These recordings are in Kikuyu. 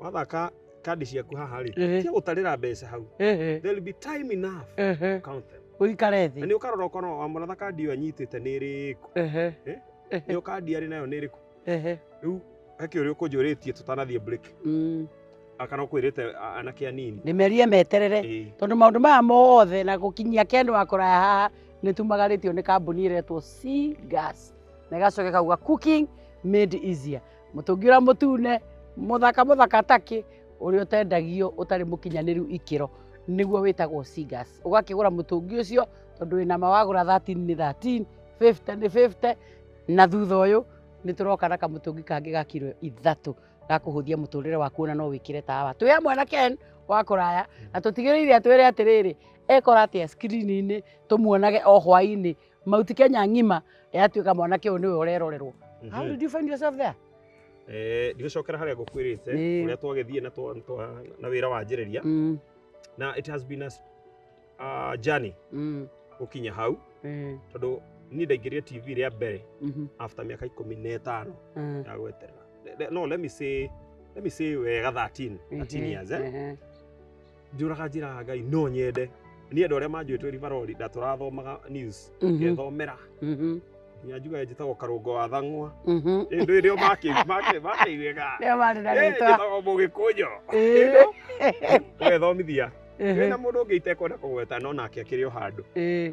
wathaka kandi ciaku haha rĩ Ehe. cia gũtarĩra mbeca hau Ehe, there will be time enough ehe. to count them Ũikare na thĩ. nĩ ũkarora ũkona wa mũratha kandi ĩyo anyitĩte nĩ ĩrĩkũ Ehe, ĩyo kandi arĩ nayo nĩ ĩrĩkũ ehe. rĩu hake ũrĩa ũkũnjũrĩtie tũtanathiĩ break Mm, akana ũkwĩrĩte a- anake anini Ndĩmerie meterere. Ĩĩ. tondå maå ndå maya mothe na gå kinyia kendå wa kå raya haha nä tumagarä tio nä kambuni ä retwo na ĩgacoka ĩkauga cooking made easier mũtũngi ũrĩa mũtune mũthaka mũthaka takĩ ũrĩa ũtendagio ũtarĩ mũkinyanĩru ikĩro nĩguo wĩtagwo Sigas ũgakĩgũra mũtũngi ũcio tondũ wĩna ma wagũra 13 nĩ 13 50 nĩ 50 na thutha ũyũ nĩ tũroka na kamũtũngi kangĩ ga kiro ithatũ gakũhũthia mũtũrĩre waku ona no wĩkĩre tawa twĩ hamwe na Ken wa kũraya na tũtigĩrĩire atwĩre atĩrĩrĩ ekora atĩa skrini-inĩ tũmuonage o hwainĩ Mauti Kenya ng'ima yatuĩka mwanake ũyũ nĩwe ũrerorerwo. How did you find yourself there? Eh, ndigũcokera harĩa ngũkwĩrĩte Ĩĩ. ũrĩa twagĩthiĩ na twa- twa- na wĩra wanjĩrĩria Mm, na it has been a s- a journey mm, gũkinya hau eh, tondũ niĩ ndaingĩrire tv rĩa mbere mhm, after mĩaka ikũmi na ĩtano eh, ya gweterera Le- le- no let me say let me say wega 13 13 ehe, years eh? ehe. njũraga njĩraga ngai no nyende niĩ andũ arĩa manjũĩtwo ribarori na tũrathomaga news Mhm. ngethomera Mhm. nginya njugaga njĩtagwo karũngo wa thang'wa Mhm. ĩndũ ĩrĩa makĩ- makĩ- makĩiguĩka Rĩo marĩ na Eh, rĩtwa. njĩtagwo mũgĩkũnjũ Ĩĩ. wethomithia Ĩhĩ. wĩna mũndũ ũngĩ itekwenda kũgweta no nake akĩrĩ o handũ Ĩĩ.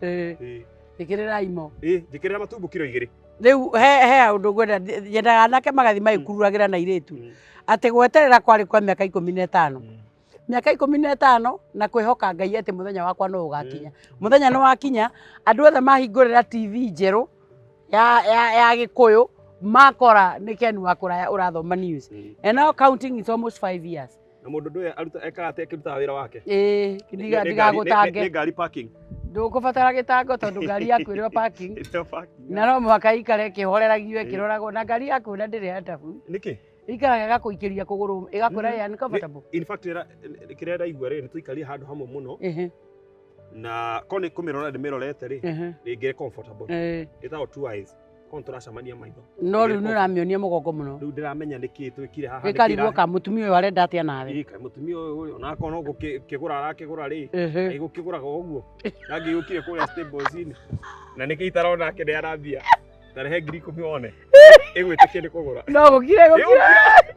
Eh, Ĩĩ. njĩkĩrĩrai mo Ĩĩ, njĩkĩrĩra matumbũ kiro igĩrĩ rĩu he he ũndũ ngwenda ndi- nyendaga anake magathiĩ magĩkururagĩra na irĩtu Mm. atĩ gweterera kwarĩ kwa mĩaka ikũmi na ĩtano mĩaka ikũmi na ĩtano na kwĩhoka ngai atĩ mũthenya wakwa no ũgakinya mũthenya nĩ wakinya andũ othe mahingũrĩra tv njerũ ya, ya, ya gĩkũyũ makora nĩ ken wa kũraya ũrathoma news and now counting is almost five years Na mũndũ ndũĩ aruta ekaga atĩa akĩrutaga wĩra wake. Ĩĩ, Nĩ- nĩ- ndiga- nĩ ngari- nĩ- ndigagũtange. Nĩ ngari parking. Ndũkũbatara gĩtango tondũ ngari yaku ĩrĩ o parking. Ĩrĩa parking. Na no mũhaka ĩikare ĩkĩhoreragio Ĩĩ. ĩkĩroragwo na ngari yaku na ndĩrĩ ya ndabu. Nĩkĩ? Ĩikaraga ĩgakũikĩria kũgũrũ ĩgakwĩra Mm. ya nĩ comfortable. In fact ĩra- ĩ- kĩrĩa ndaigua rĩ nĩ tũikarie handũ hamwe mũno Ehe, na ko nĩ kũmĩrora ndĩmĩrorete rĩ ehe, rĩngĩ comfortable. eh. Ĩtagwo two eyes. Kono turacamania maitho. No riu ni uramionia mugongo muno. Riu ndiramenya niki twikire haha. Ikarigwo ka mutumia uyu arenda atia nawe. Ika mutumia uyu ona akono gukigura arakigura ri. Ai gukigura go uguo. Nagi yukire kuria stables ini. Na niki itarona ake ni arambia. Na rehe ngiri ikumi one. Igwitikia ni kugura. No gukire gukire.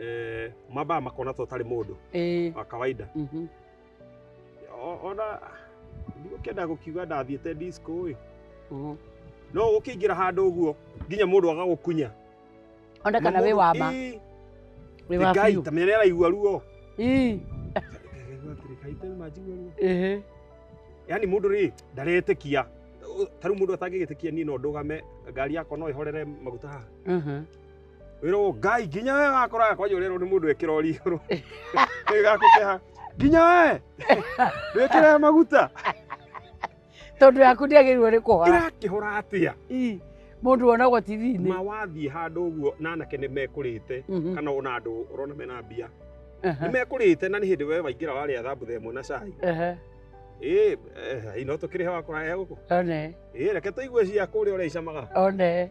eh, mambaa makona ta ũtarĩ mũndũ Eh, wa kawaida mhm. O- ona ndigũkĩenda gũkiuga ndathiĩte disco ĩ Mhm. no ũkĩingĩra handũ ũguo nginya mũndũ agagũkunya Ona kana wĩ wa ma, Ĩ, wĩ wa Ngai, biũ. ta mĩrĩa araigua ruo Ii, ehe. yani mũndũ rĩ ndaretĩkia Ũ- ta rĩu mũndũ atangĩgĩtĩkia niĩ no ndũgame ngari yakwa no ĩhorere maguta haha Mhm. wĩrwo ngai nginya we wakoraga kwanja ũrerwo nĩ mũndũ ekĩra ũri igũrũ ĩgakũkeha nginya we ndwĩkĩre maguta tondå yaku ndäagä rwo nä kå hora ĩrakĩhora atĩa må ndå wonagwo tv-inä ma wathiĩ handũ ũguo na anake nĩ mekũrĩte Mhm. kana ona andũ ũrona mena mbia Aha, nĩ mekũrĩte na nĩ hĩndĩ we waingĩra warĩa thambutha ĩmwe na cai aha, ĩ ino tũkĩrĩ he wakora he gũkũ one ĩ reke tũigue cia kũrĩa ũrĩa icamaga one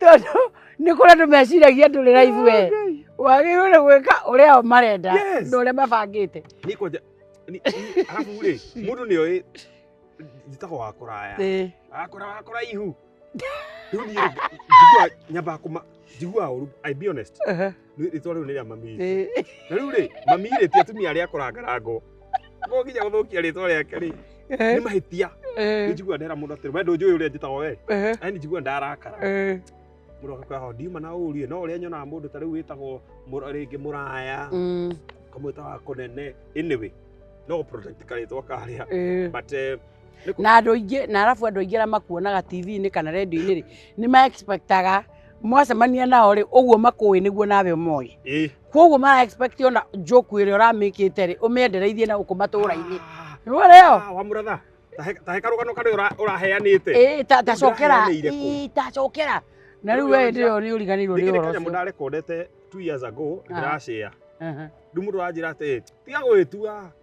tondũ nĩ kũrĩa andũ meciragia ndũrĩ raibu we wagĩrĩirwo nĩ gwĩka ũrĩa o marenda Yes. na ũrĩa mabangĩte Niko ja- ni- ni- alafu ule mundu ni oe njitagwo wa kuraya Ĩĩ. akora wa kuraihu riu ni njigua nyamba kuma njigua uru i be honest Aha. rĩtwa rĩu nĩ rĩa mami witũ. Ĩĩ. na rĩu rĩ mami rĩ ti atumia arĩa akorangarango no nginya gũthũkia rĩtwa rĩake rĩ nĩ Ĩĩ. mahĩtia Ĩĩ. njigua ndera mũndũ atĩrĩ we ndũnjũĩ ũrĩa njĩtagwo we Ĩĩ. ani njigua ndarakara Ĩĩ. mũndũ akakwĩra ho ndiuma na ũũru ĩ, no ũrĩa nyonaga mũndũ ta rĩu wĩtagwo mũra- rĩngĩ mũraya Mm. kamwĩta wa kũnene anyway no protect karĩtwa karĩa Ĩĩ. but eh, nĩ kũ- na andå ingä na arabu andå aingä arä a makuonaga tv-inä kana redio-inä rä nä ma expectaga mwacemania nao rĩ ũguo makũĩ nĩguo nawe ũmoĩ Eh. kwoguo mara expect ona njoku ĩrĩa ũramĩkĩte rĩ ũmĩendereithie na gũkũ matũũra-inĩ nĩwoneo Ah, wa mũratha tahe karũgano karĩa ũra- ũraheanĩte ĩĩ ta- tacokera Ndĩraheanĩire kũ? ĩĩ, tacokera na rĩu we hĩndĩ ĩyo nĩ ũriganĩirwo nĩ ũhoro ũcio ndarekondete two years ago Aha. ndĩracĩa Aha. rĩu mũndũ aranjĩra atĩ tiga gwĩtua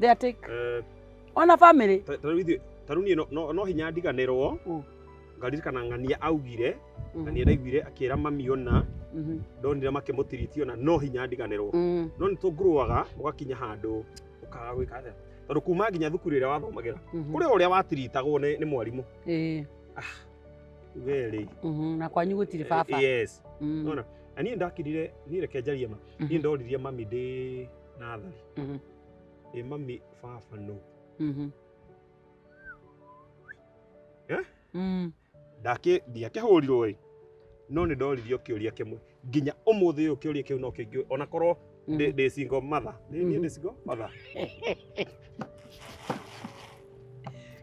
They are take. Eh, Ona family. ta- ta rĩu ithuĩ- ta rĩu niĩ no- no- no hinya ndiganĩrwo Mm. ngaririkana ng'ania augire Mhm, ng'ania ndaiguire akĩra mami ona mhm, ndonire makĩmũtiriti ona no hinya ndiganĩrwo mhm. no nĩ tũngurũaga ũgakinya handũ ũkaga gwĩka atĩa tondũ kuma nginya thukuru ĩrĩa wathomagĩra Mhm. kũrĩ ũrĩa watiritagwo nĩ nĩ mwarimũ Eh, we rĩ mhm, na kwanyu gũtirĩ baba. yes Mhm, nona na niĩ ndakirire niĩ reke njarie ma niĩ mhm. ndoririe mami ndĩ nathari Mhm. ĩ mami baba nũ Mhm. Eh? Mm. ndakĩ ndiakĩhũrirwo ĩ no nĩ ndoririo kĩũria kĩmwe nginya ũmũthĩ ũyũ kĩũria kĩu no kĩngĩ ona korwo Mhm. ndĩ ndĩ single mother nĩ niĩ Mhm. ndĩ single mother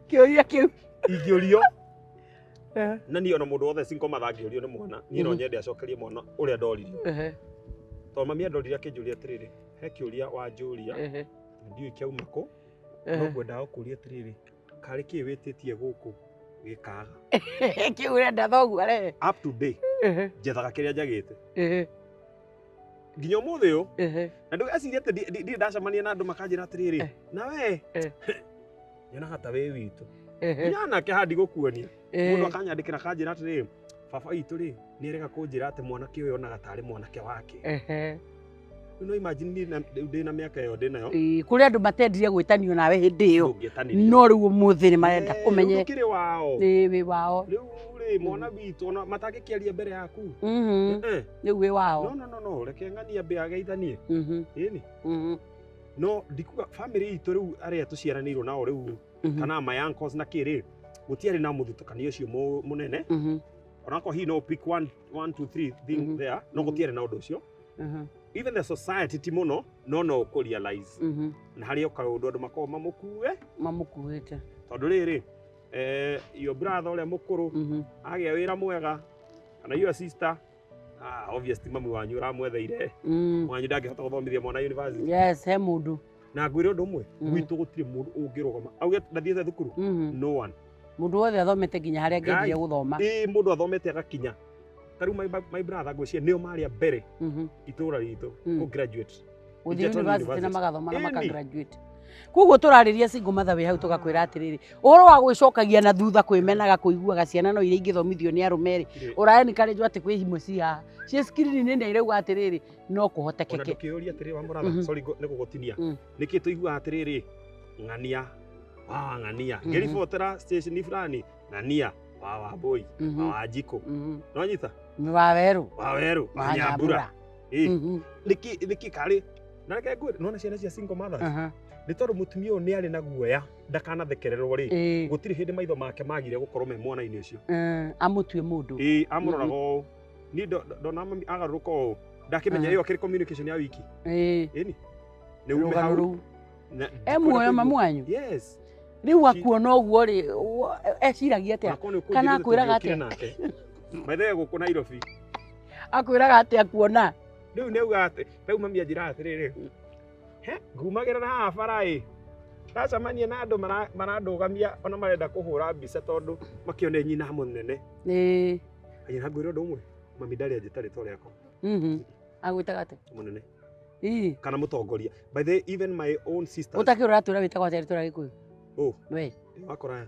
Kĩũria kĩu. ingĩũrio Eh, na niĩ ona mũndũ wothe cinko mathangĩũrio nĩ mwana niĩ no Mhm. nyende acokerie mwana ũrĩa ndoririo ehe, tondũ mami andorire akĩnjũria atĩrĩrĩ he kĩũria wanjũria ehe, ndiũĩ kĩauma kũ no ehe. ngwendaga gũkũria atĩrĩrĩ karĩ kĩĩ wĩtĩtie gũkũ gĩkaga Kĩu ũrenda thoguo arehe. up to day Ehe, njethaga kĩrĩa njagĩte ehe. nginya umuthi uyu Ehe. na ndugeciria ati ndi- ndi- ndirĩ ndacemania na andũ makanjĩra atĩrĩrĩ Eh. na we Eh. nyonaga ta wĩ witũ Ehe. nginya anake handi gũkuonia mũndũ Ehe. akanyandĩkĩra akanjĩra atĩrĩrĩ baba witũ rĩ nĩ erega kũnjĩra atĩ mwanake ũyũ onaga tarĩ mwanake wake Ehe. Rĩu no imagine niĩ na- rĩu ndĩ na mĩaka ĩyo ndĩ nayo Ĩĩ, kũrĩ andũ matendire gwĩtanio nawe hĩndĩ ĩyo ndũngĩetanĩria no rĩu ũmũthĩ nĩ marenda Eh, kũmenye rĩu ndũkĩrĩ wao nĩ wĩ wao rĩu rĩ mwana witũ ona matangĩkĩaria mbere yaku Mhm. Eh, eh. nĩ uĩ no wao no no no reke ng'ani ambe ageithanie Mhm, ĩni mhm, no ndikuga bamĩrĩ itũ rĩu arĩa tũciaranĩirwo nao rĩu mhm, kana my uncles na kĩ rĩ gũtiarĩ na mũthutũkanio ũcio mũ- mũnene mhm, onako hihi no pick one, one, two, three thing Mhm. there no Mhm. gũtiarĩ na ũndũ ũcio mhm, even the society ti mũno no no ũkũ realize mhm. na harĩ oka ũndũ andũ makoragwo mamũkue mamũkuĩte tondũ rĩrĩ eh, your brother ũrĩa mũkũrũ Mhm, agĩa wĩra mwega kana your sister ah obvious ti mamu wanyu uramwetheire Mm. mwanyu ndangĩhota gũthomithia mwana university Yes, he mũndũ. na ngwĩre ũndũ ũmwe Mm. gwitũ gũtirĩ mũndũ ũngĩrũgama auge ndathiĩte thukuru Mhm. no one Mũndũ wothe athomete nginya harĩa Guys. angĩendire gũthoma. ĩ mũndũ athomete agakinya tarĩu my, my brother ngwĩciria nĩo marĩa mbere Mhm. itũra ritũ Mm. kũ graduate gũthiĩ Ingĩtũra university na university. magathoma na Ĩni. makagraduate koguo tũrarĩria single mother wĩ hau tũgakwĩra atĩrĩrĩ ũhoro wa gwĩcokagia na thutha kwĩmenaga kũiguaga ciana no iria ingĩthomithio nĩ arũme rĩ Ĩĩ. ũraeni karĩnjwo atĩ kwĩ imwe ci haha ciĩ skrini-inĩ nĩ irauga atĩrĩrĩ no ona kũhotekeke ndũkĩũria atĩrĩ wa mũratha Mhm. sorry ngo- nĩ gũgũtinia Mm. nĩkĩ tũiguaga atĩrĩrĩ ng'ania wa ng'ania Mhm. ngĩribotera station fulani ng'ania wa wambũi wa Mhm, wanjikũ mhm. nonyita nĩ wa werũ wa werũ wa wa nyambura nyambura Ĩ, Mhm. nĩkĩ nĩkĩ karĩ na reke ngwĩre nona ciana cia single mothers Aha. nĩ tondũ mũtumia ũyũ nĩ arĩ na guoya ndakanathekererwo rĩ Ĩĩ. gũtirĩ hĩndĩ maitho make magire gũkorwo me mwana-inĩ ũcio Eh, amũtue mũndũ ĩĩ amũroraga ũũ niĩ ndo- ndo- ndona mami agarũrũka ũũ ndakĩmenya Aha. ĩyo akĩrĩ communication ya wiki Ĩĩ, ĩni nĩ ume rũgano hau rũu na- e muoyo mamu wanyu yes rĩu akuona ũguo rĩ wo- eciragia atĩa Kana akwĩraga atĩa? maithe gũkũ nairobi akwĩraga atĩ akuona rĩu nĩ uga atĩ rĩu mami anjĩra atĩrĩrĩ he ngumagĩra na haha bara ĩ ndacemania na andũ mara- marandũgamia ona marenda kũhũra mbica tondũ makĩone nyina mũnene Ĩĩ, anyina ngwĩra ũndũ ũmwe mami ndarĩ anjĩta rĩtwa rĩakwa mhm. agwĩtaga atĩ mũnene Ii, kana mũtongoria by the way, even my own sister ũtakĩũra atwĩra wĩtagwo atĩa rĩtwa rĩa gĩkũyũ Ũ. we wakora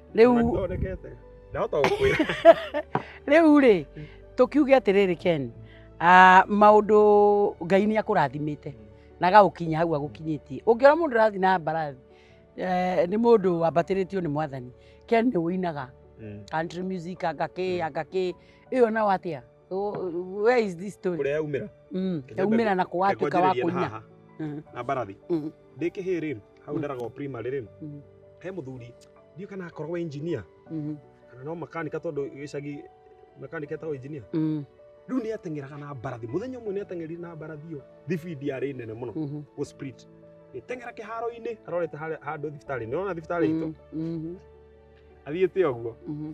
Rĩu Mathondekete. Ndahota gũkwĩra. rĩu rĩ tũkiuge atĩrĩrĩ ken ah, maũndũ ngai nĩ akũrathimĩte na agagũkinya hau agũkinyĩtie ũngĩona mũndũ ũrathiĩ na mbarathi eh, nĩ mũndũ wambatĩrĩtio nĩ mwathani ken nĩ ũinaga Mm. country music angakĩ angakĩ ĩyo nao atĩa Oh, where is this story? Kũrĩa yaumĩra. Mm. Yaumĩra na kũwatuĩka wa kũina. Mm. Na mbarathi. Mm. Ndĩ kĩhĩĩ rĩ, hau mm. ndaraga o primary rĩ. Mm. He mũthuri, ndiũ kana akoragwo engineer. Mm. Kana no makanika tondũ gĩcagi makanika etagwo engineer. Mm. Rĩu nĩ ateng'eraga na mbarathi. Mũthenya ũmwe nĩ ateng'eri na mbarathi ĩyo. Thibindi yarĩ nene mũno. Mm-hmm. Go split. Ĩteng'era kĩharo-inĩ arorete handũ thibitarĩ. Nĩ wona thibitarĩ itũ? Mm-hmm. athiĩte ũguo Mhm,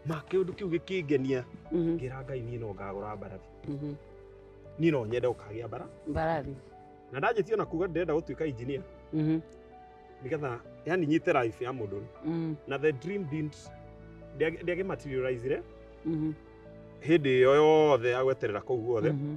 ma kĩũndũ kĩu gĩkĩngenia mhm, ngĩra ngai niĩ no ngagũra mbarathi mhm. niĩ no nyende ũkagĩa mbara mbarathi na ndanjĩtie ona kuga ndĩrenda gũtuĩka engineer Mhm, nĩgetha yani nyite life ya mũndũ mhm, na the dream didn't ndĩagĩ materializire mhm, hĩndĩ ĩyo yothe ya gweterera kũu guothe mhm.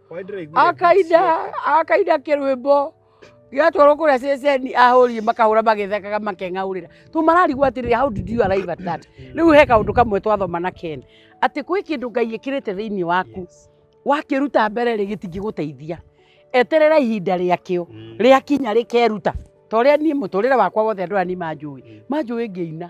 akainda akainda kĩrwĩmbo gĩatwarwo kũrĩa ceceni ahũri makahũra magĩthekaga makeng'aũrĩra tũ mararigwo atĩrĩrĩ how did you arrive at that rĩu he kaũndũ kamwe twathoma na ken atĩ gwĩ kĩndũ ngai ĩkĩrĩte thĩinĩ waku wakĩruta mbere rĩ gĩtingĩgũteithia eterera ihinda rĩakĩo rĩakinya rĩkeruta ta ũrĩa niĩ mũtũrĩre wakwa wothe andũ aya nĩ manjũĩ manjũĩ ngĩina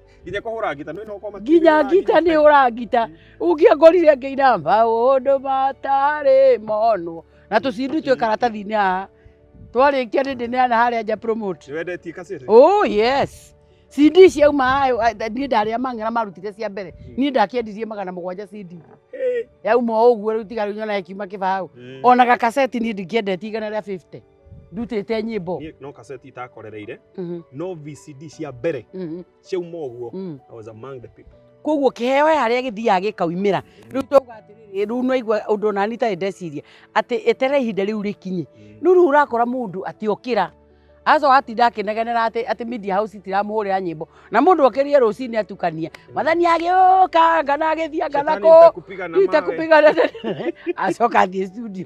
nginya kũhũra ngita nĩ nokoma nginya ngita nĩ ũrangita ũngĩangorire ngĩina maũndũ matarĩ monwo na tũcindi twĩ karatathi-inĩ haha twarĩkia nĩ ndĩneana harĩa nja promote wendetie kasete oh yes cindi ciauma hayo a- tha- niĩ ndarĩa mang'era marutire cia mbere niĩ ndakĩendirie magana mũgwanja cindi yauma o ũguo rĩu tiga rĩu nyona ĩkiuma kĩbaũ ona gakaseti niĩ ndingĩendetie igana rĩa 50 ndutĩte nyĩmbo niä no kaseti itakorereire Mhm, no vcd cia mbere mhm, ciauma å guo mhm. I was among the people koguo kĩheo he harĩa gĩthiaga gĩkaumĩra rĩu twauga atĩrĩrĩ rĩu nwaigua ũndũ ona niĩ itarĩ ndeciria atĩ etere ihinda rĩu rĩkinye Mm. rĩu rĩu ũrakora mũndũ atĩ okĩra aco atinda akĩnegenera atĩ atĩ media house itiramũhũrĩra nyĩmbo na mũndũ okĩrire rũcinĩ atukania mathani agĩũka ngana agĩthianga Shetani nako nitakupiga na mawe. nitakupigana acoka athiĩ studio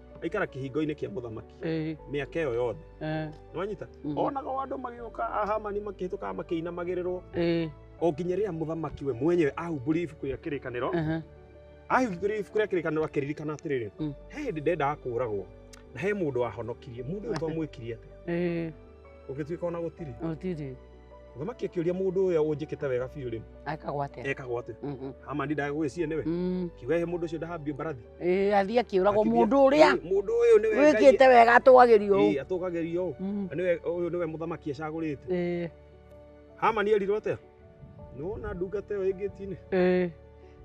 aikara kĩhingo-inĩ kĩa mũthamaki Ĩĩ, mĩaka ĩyo yothe eh, nĩwanyita mhm, onaga o andũ magĩũka ahamani makĩhĩtũkaga makĩinamagĩrĩrwo ĩĩ, o nginya rĩrĩa mũthamaki we mwenyewe ahumbũrire ibuku rĩa kĩrĩkanĩro aha, ahumbũrire ibuku rĩa kĩrĩkanĩro akĩririkana atĩrĩrĩ Mm. he hĩndĩ ndendaga kũũragwo na he mũndũ wahonokirie mũndũ ũyũ twamwĩkirie atĩa ĩĩ, ũngĩtuĩka ona gũtirĩ gũtirĩ thamaki akĩũria mũndũ ũyũ ũnjĩkĩte wega biũ rĩ ekagwo atĩa ekagwo atĩa Mhm. hamani ndagũgĩcie nĩwe Mm. kiuga he mũndũ ũcio ndahambio mbarathi Ĩĩ, athiĩ akĩũragwo Akĩthiĩ- mũndũ ũrĩa Ĩĩ, mũndũ ũyũ nĩwe Ngai- wĩkĩte wega atũgagĩrio ũũ. Ĩĩ, atũgagĩrio ũũ. Mm. Na nĩwe ũyũ nĩwe mũthamaki acagũrĩte Ĩĩ, hamani erirwo atĩa nĩwona ndungata ĩyo ĩngĩtinĩ ĩĩ.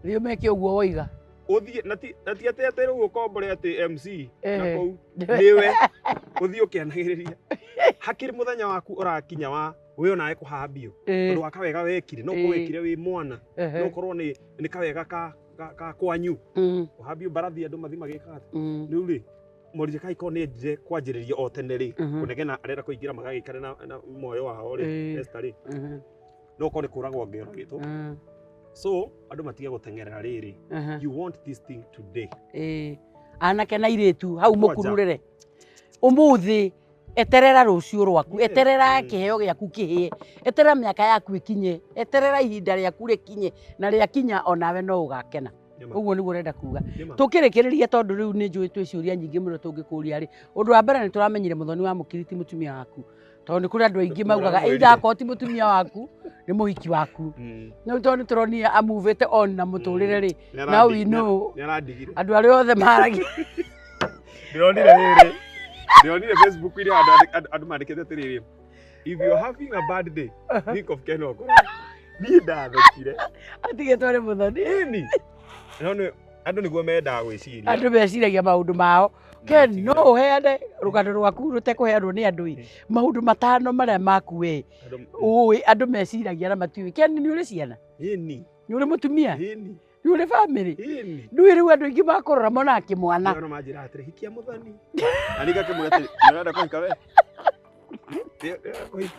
rĩu meke ũguo woiga uthie na ti na ti ati ati riu ukombore ati MC na Ehe. kuu niwe uthie ukianagiriria hakiri muthenya waku urakinya wa we onawe kuhambio Eh, tondu wa kawega wekire no Eh. kuwekire wi mwana ehe. no korwo ni ni kawega ka ka- ka kwanyu Mm, kuhambio mbarathi andu mathi magikaga mm, riu ri Mordecai ko ni ndire kwanjiriria o tene ri Mhm. kunegena arenda kuingira magagikare na na moyo wao ri Eh. Esther ri mhm. no ũkorwo nĩ kũragwo ngĩũragĩtwo Mm. so andũ matige gũteng'erera rĩrĩ Aha. you want this thing today Ĩĩ. anake na irĩtu hau Kwanja. mũkururĩre ũmũthĩ eterera rũciũ rwaku Yes. eterera kĩheo gĩaku kĩhĩe eterera mĩaka yaku ĩkinye eterera ihinda rĩaku rĩkinye na rĩakinya onawe no ũgakena Nĩma, ũguo nĩguo ũrenda kuga nĩma. tũkĩrĩkĩrĩria tondũ rĩu nĩ njũĩ twĩ ciũria nyingĩ mũno tũngĩkũria rĩ ũndũ wa mbere nĩ tũramenyire mũthoni wa mũkiriti mũtumia waku tondå nä kå rä andå aingä maugaga Ndũramwĩrire. either akorwo ti må tumia waku nä må hiki waku Mm. no tondå nä tå ronia amuvä te on na må tå rä re rä Nĩ now arandi- we know nĩ arandigire andå arä othe maragia ndĩronire rĩrĩ ndĩronire facebook irĩa andũ andĩ- andũ- andå mandĩkĩte atĩrĩrĩ if you're having a bad day think of ken okora niĩ ndathekire atigä two nä må thoni ĩni no nĩ- andũ nĩguo mendaga gwĩciria andå meciragia maå ndå mao Ken, no ũheane rũgano rwaku rũtekũheanwo nĩ andũ ĩ maũndũ matano marĩa maku wĩ ũĩ andũ meciragia na matiũĩ Ken nĩ ũrĩ ciana Ĩni, nĩ ũrĩ mũtumia ĩni, nĩ ũrĩ bamĩrĩ ĩni. ndũĩ rĩu andũ aingĩ makũrora monaga kĩmwana Ndio manjira atiri hikia muthoni. Ani gake mwete. Ndio kuhika we. Ndio kuhika.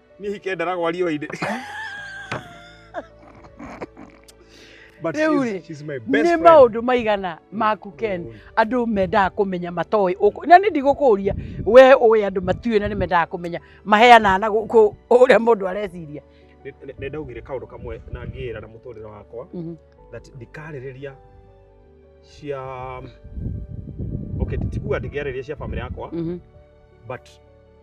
Niĩ hike ndara gwa riũa-inĩ. But Rĩu she's- rĩ, she's my best nĩ friend. maũndũ maigana maku ken Mm. andå mendaga kå menya matoä na nä ndigå kå ria we å andå matiå na nä mendaga kå menya maheanaga na gå kå å rä a må ndå areciria Nĩ- nĩ- nĩ ndaugire kaũndũ kamwe na ngĩĩra na mũtũrĩre wakwa Mhm. that ndikarĩrĩria cia okay tikuga ndingĩarĩrĩria cia famĩlĩ yakwa Mhm. but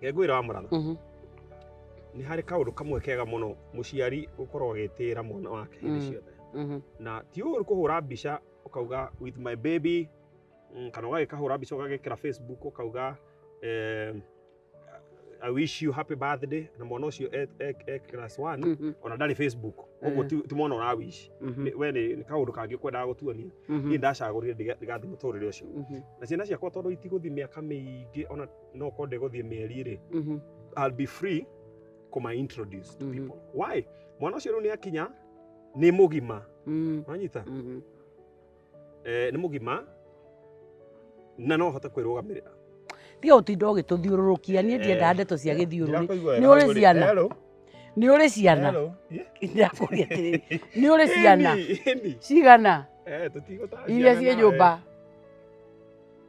ngengwira wa mũratho Mhm. nĩ harĩ kaũndũ kamwe kega mũno mũciari gũkorwo agĩtĩĩra mwana wake hĩndĩ Mm. ciothe Mhm. na ti ũũru kũhũra mbica ũkauga with my baby mm, kana ũgagĩkahũra mbica ũgagĩkĩra facebook ũkauga eh, I wish you happy birthday na mwana ũcio e- e- e class one Mhm. ona ndarĩ facebook ũguo Eh. ti ti mwana ũra wish Mhm. Nĩ- we nĩ nĩ kaũndũ kangĩ ũkwendaga gũtuonia Mhm. niĩ ndacagũrire ndiga- ndigathiĩ mũtũrĩre ũcio Mhm. na ciana ciakwa tondũ itigũthiĩ mĩaka mĩingĩ ona no ko ndegũthiĩ mĩeri rĩ Mhm. I'll be free kuma introduce to Mhm. people why mwana ũcio rĩu nĩ akinya nĩ mũgima Mhm. wanyita Mhm. eh, nĩ mũgima na no hote kwĩrũgamĩrĩra tiga ũtinda ũgĩtũthiũrũrũkia niĩ ndiendaga Eh, ndeto cia gĩthiũrũrĩ nĩ ũrĩ ciana nĩ ũrĩ ciana ndakũria atĩrĩrĩ nĩ ũrĩ ciana cigana iria ciĩ nyũmba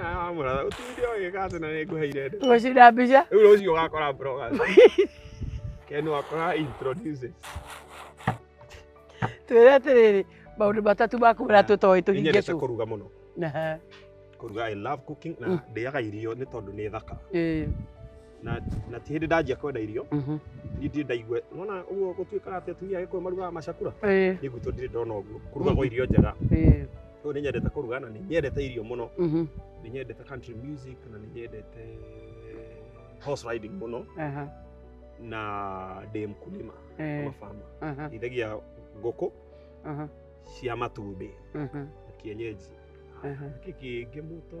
Ah, mwana, utinde oge kazi na nikuhe irede. Ushida bisha. Ule uzi wakora bro kazi. Kenu wakora introduces. Twere atiriri, maundu matatu ma kumira tutoĩ tũhinge Inyendete tu. kũruga mũno. Aha. Kũruga I love cooking na Mm. ndĩaga irio nĩ tondũ nĩ thaka. Ĩĩ. na na ti hĩndĩ ndanjia kwenda irio Mhm. niĩ ndirĩ ndaigua nona ũguo gũtuĩkaga atĩ atumia agĩkũyũ marugaga macakura Ĩĩ, niĩ gwitũ ndirĩ ndona ũguo kũrugagwo irio njega ĩĩ. rĩu nĩ nyendete kũruga na nĩ nyendete irio mũno Mhm. nĩ nyendete country music na nĩ nyendete horse riding mũno Aha. na ndĩ mkulima Ĩĩ. ama farmer Aha. ndĩithagia ngũkũ Aha. cia matumbĩ Mhm. na kienyeji Aha. kĩngĩ mũto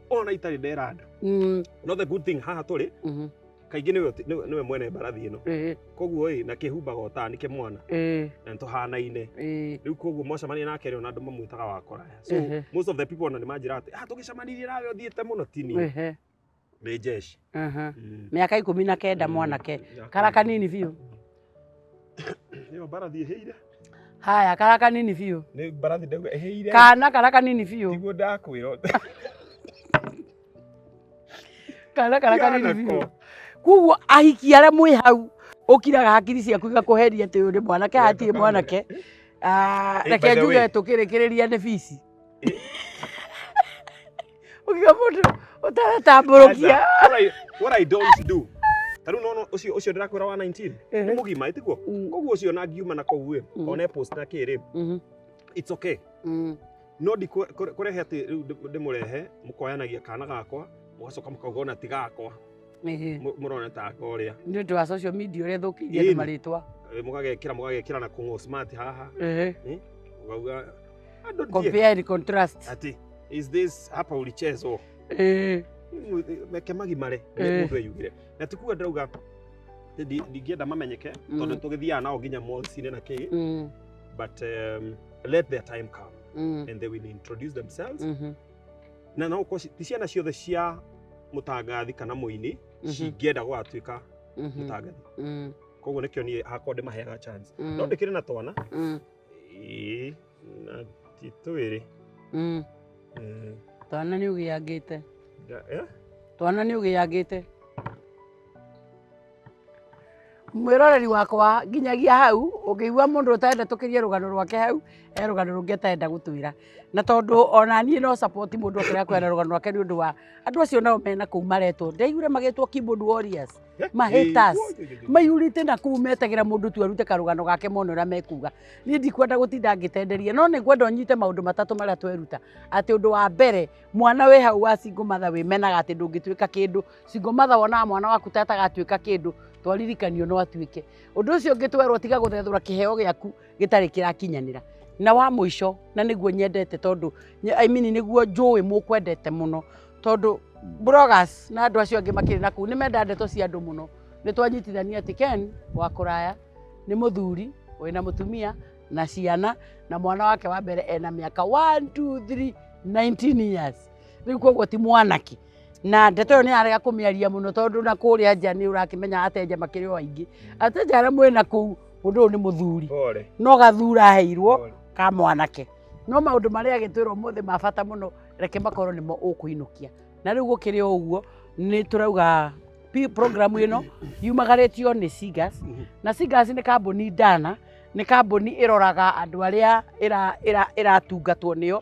ona itarĩ ndera andũ Mm, no the good thing haha tũrĩ mhm, kaingĩ nĩwe ũti- nĩwe nĩwe mwene mbarathi ĩno eh, koguo ĩ na kĩhumbaga ũtaa nĩkĩ mwana eh, na nĩtũhanaine eh, rĩu koguo mwacemania nake rĩ ona andũ mamwĩtaga wa kũraya so Ehe. most of the people ona nĩmanjĩra atĩ ah tũgĩcemanirie nawe ũthiĩte mũno tini eh, nĩ jeshi Aha. Ĩĩ. mĩaka ikũmi na kenda mwanake Ya kara kũigana. kanini biũ Ĩyo mbarathi ĩhĩire. haya kara kanini biũ Nĩ mbarathi ndauga ĩhĩire. kana kara kanini biũ Tiguo ndakwĩra. kana kara kanini biũ Yanako. kuguo ahiki arĩa mwĩ hau ũkiraga hakiri ciaku igakũheria atĩ ũyũ nĩ mwanake hatirĩ Yanako. mwanake Ah, Eh, by reke the njuge way. tũkĩrĩkĩrĩria nĩ bici ukiga mundu utaratambũrũkia What I- what I don't do ta rĩu nona ũcio ũcio ndĩrakwĩra wa 19 nĩ mũgima ĩtiguo Mm. koguo ũcio ona ngiuma na kũu rĩ Mm. one post na kĩrĩ Mhm. it's okay Mm. no ndikũ- kũre- kũrehe atĩ rĩu ndĩ- ndĩmũrehe mũkoyanagia kana gakwa mũgacoka mũkauga ona ti gakwa Ĩhĩ. Mu- murona ta aka uria nĩ ũndũ wa social media ũrĩa thũkĩirie andũ Ĩni. marĩtwa Eh, mugagekira mugagekira na kungo smart haha Ĩhĩ. ugauga andu ndie compare and contrast ati is this hapa ulichezwo Ĩhĩ. meke magimare nĩ Eh. mũndũ eyugire na tikuga ndauga ati ndi- ndingĩenda mamenyeke Mm. tondũ tũgĩthiaga nao nginya mallsinĩ na kĩ Mm, but um, let their time come mm, and they will introduce themselves mhm. na no ũkorwo ci- ti ciana ciothe cia mũtangathi kana mũini Mhm. cingĩenda gwatuĩka Mhm. mũtangathi Mm, koguo nĩkĩo niĩ hakwa ndĩmaheaga chance mm, no ndĩkĩrĩ na twana mm, Ĩĩ, na ti twĩrĩ mm. Mm, twana nĩ ũgĩangĩte nda- eh? twana nĩ ũgĩangĩte Mwĩroreri wakwa nginyagia hau ũngĩigua mũndũ ũtarenda tũkirie rũgano rwake hau he rũgano rũngĩ atarenda gũtwĩra. Na tondũ ona niĩ no support mũndũ ũngĩenda kũheana rũgano rwake nĩ ũndũ wa andũ acio nao me nakũu maretwo. Ndaiguire magĩtwo keyboard warriors, ma haters, maihũrĩte nakũu metagĩra mũndũ tu arute karũgano gake mone ũrĩa mekuga. Niĩ ndikwenda gũtinda ngĩtenderia no nĩ ngwenda ũnyite maũndũ matatũ marĩa tweruta. Atĩ ũndũ wa mbere, mwana wĩ hau wa single mother wĩmenaga atĩ ndũngĩtuĩka kĩndũ, Single mother wonaga mwana waku ta atagatuĩka kĩndũ to aririkanio no atuĩke. Ũndũ ũcio ũngĩ twerwo tiga gũthethũra kĩheo gĩaku gĩtarĩ kĩrakinyanĩra. Na wa mũico na nĩguo nyendete tondũ I mean nĩguo njũĩ mũkwendete mũno tondũ bloggers na andũ acio angĩ makĩrĩ na kũu nĩ menda ndeto cia andũ mũno. Nĩ twanyitithania atĩ Ken wa kũraya nĩ mũthuri wĩna mũtumia na ciana na mwana wake wa mbere ena mĩaka one, two, three, 19 years. Rĩu koguo ti mwanake. na ndeto ĩyo nĩ arega kũmĩaria mũno tondũ na kũrĩa nja nĩ ũrakĩmenya atenja makĩrĩ o aingĩ atenja arĩa mwĩ na kũu mũndũ ũyũ nĩ mũthuri Pole. no gathura aheirwo Pole. ka mwanake no maũndũ marĩa agĩtwĩra ũmũthĩ ma bata mũno reke makorwo nĩmo ũkũinũkia na rĩu gũkĩrĩ o ũguo nĩ tũrauga pi- programu ĩno yumagarĩtio nĩ Sigas na Sigas nĩ kambuni ndana nĩ kambuni ĩroraga andũ arĩa ĩra- ĩra- ĩratungatwo nĩyo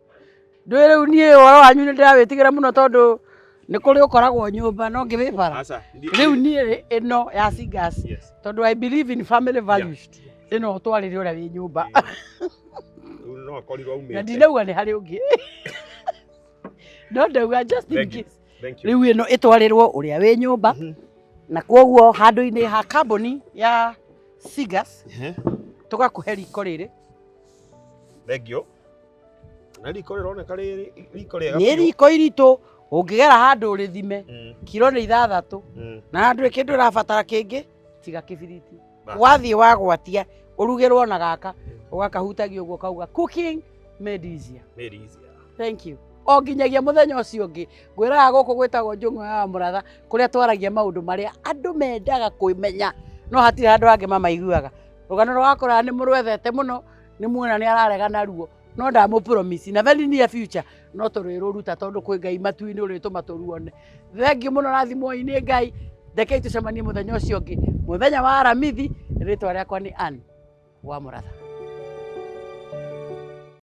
Ndũĩ rĩu niĩ ũhoro wanyu nĩ ndĩrawĩtigĩra mũno tondũ nĩ kũrĩ ũkoragwo nyũmba no ngĩ wĩ bara. Aca, ndiĩ- Rĩu niĩ rĩ ĩno ya Singas Yes. tondũ I believe in family values ĩno ũtwarĩre ũrĩa wĩ nyũmba Rĩu no akorirwo aumĩte. na ndinauga nĩ harĩ ũngĩ no ndauga just in Thank you. case Thank you. rĩu ĩno ĩtwarĩrwo ũrĩa wĩ nyũmba Mhm. na kwoguo handũ-inĩ ha kambuni ya Singas Ehe. tũgakũhe riko rĩrĩ Thengiũ. Na riko rĩroneka rĩ riko rĩega. Nĩ riko iritũ ũngĩgera handũ ũrĩthime mm. kiro nĩ ithathatũ mm. na handũ kĩndũ ũrabatara kĩngĩ tiga kĩbiriti wathiĩ wagwatia ũrugĩrwo na gaka mm. ũgakahutagia ũguo kauga cooking made easier. Made easier. Thank you o nginyagia muthenya ucio ungi ngwiraga guku gwitagwo njung'o ya muratha kuria twaragia maundu maria andu mendaga kwimenya no hatire andu angi mamaiguaga rũgano rwa wakora nĩ mũrwethete mũno nĩ muona nĩ ararega naruo no ndamũ promise na very near future no tũrĩrũruta tondũ kwĩ ngai matu-inĩ ũrĩtũma tũruone thengiũ mũno rathimwo-inĩ ngai ndekei tũcemanie mũthenya ũcio ũngĩ mũthenya wa aramithi rĩtwa rĩakwa nĩ Ann wa mũratha